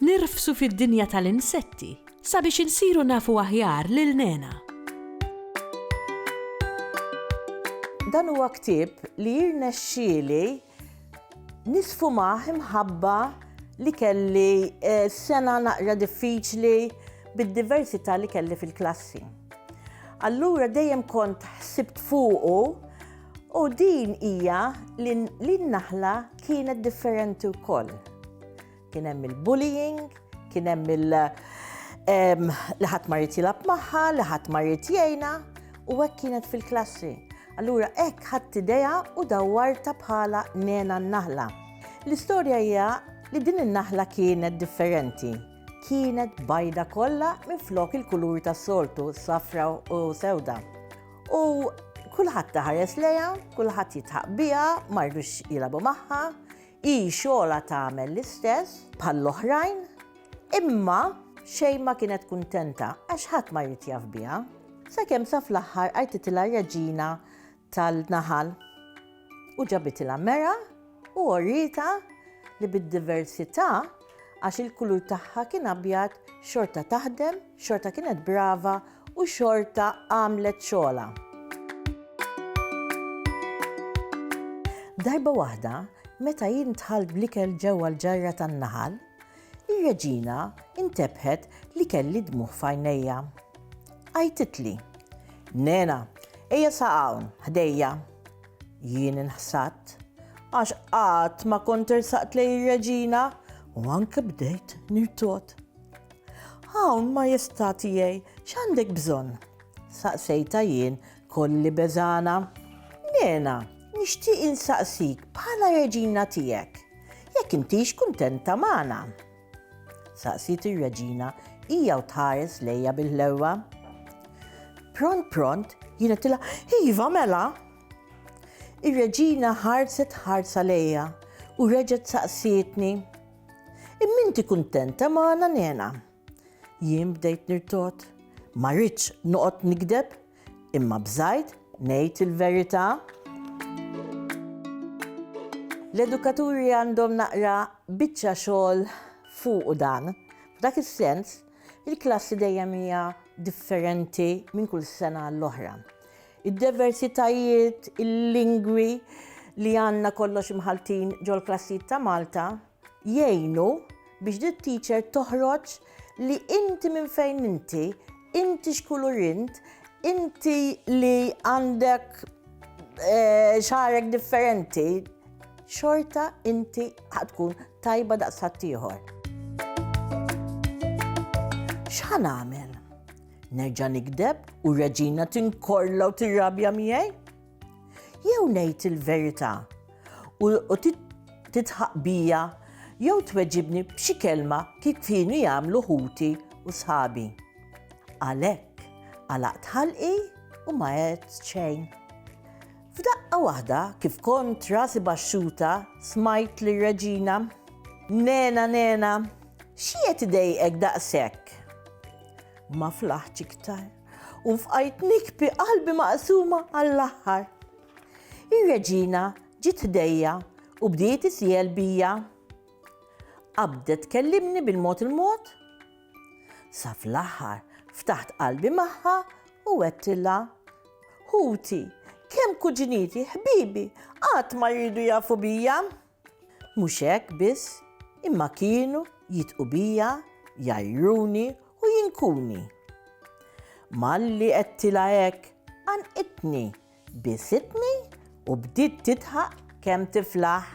Nirfsu fid-dinja tal-insetti sabiex insiru nafu aħjar lil nena. Dan huwa ktieb li jirnexxieli nisfumah imħabba li kelli eh, sena naqra diffiċli bid-diversità li kelli fil-klassi. Allura dejjem kont ħsibt fuqu u din hija li n-naħla kienet differenti wkoll. Kien hemm il-bullying, kien hemm il- li ħadd ma jrid jilgħab magħha, li ħadd ma jrid jgħinha, u hekk kienet fil-klassi. Allura hekk ħadd idea u dawwarta bħala nena n-naħla. L-istorja hija li din in-naħla kienet differenti. Kienet bajda kollha minn flok il-kulur tas-soltu, safra u sewda. U kulħadd taħares leja, kulħadd jitħaq biha, mardux jilabu magħha, Hi xogħolha tagħmel l-istess bħall-oħrajn, imma xejn ma kienet kuntenta għax ħadd ma jrid jaf biha, sakemm sa fl-aħħar għajtitilha reġina tal-naħal u ġabitilha mera u orietha li bid-diversità għax il-kulur tagħha kien abjad xorta taħdem, xorta kienet brava u xorta għamlet xogħla. Darba waħda, meta jien tħal blikel ġewwa l-ġarra tan-naħal, ir-reġina intebħet li kelli dmuħ fajnejja. Għajtitli, Nena, eja sa' hawn, ħdejja. Jien inħsadt għax qatt ma kont irsaqt lej ir-reġina u anke bdejt nirtot. Hawn majestà tiegħi x'għandek bżonn? Saqsejta jien kolli beżana. Nena, nixtieq insaqsik bħala reġina tiegħek jekk intix kuntenta magħna. Saqsiet ir-reġina hija u tħares lejja bil-ħlewwa. Pront pront jien qedtilha iva mela. Ir-reġina ħarset ħarsa lejja u reġgħet saqsietni. Imminti kuntenta magħna nena. Jien bdejt nirtot. Ma rridx noqgħod nikdeb Imma bżajt ngħid il-verità. L-edukaturi għandhom naqra biċċa xogħol fuqu dan. F'dak is-sens, il-klassi dejjem hija differenti minn kull sena għall-oħra. Id-diversitajiet, il-lingwi li għandna kollox imħaltin ġol-klassijiet ta' Malta jgħinu biex di t-teacher toħroġ li inti minn fejn inti, inti x'kulur int, inti li għandek eh, xarek differenti, xorta inti ħatkun tajba daqs ħaddieħor. X'ħan għamel? Nerġa' nikdeb u reġina tinkorla u tirrabja miegħi? Jew ngħid il-verità u titħaq bija jew tweġibni b'xi kelma kif kienu jagħmlu ħuti u sħabi. Għalhekk, għalaqt ħalqi u ma għedt xejn. F'daqqa waħda, kif kont rasi baxxuta, smajt li reġina Nena, nena, xiet idejqek daqshekk? Ma flaħċ iktar. U fqajt nikpi qalbi maqsuma għall-aħħar. Ir-reġina ġiet ħdejja u bdiet isjel bija. Qabdet kellimni bil-mod il-mod. Sa fl-aħħar ftaħt qalbi magħha u għedtilha. Ħuti, kemm kuġiniti, ħbibi, qatt ma jridu jafu bija. Mhux hekk biss, imma kienu jidqu bija, jgħajruni u jinkuni. Malli għedtilha hekk, qanqitni, bisitni u bdiet tidħaq kemm tiflaħ.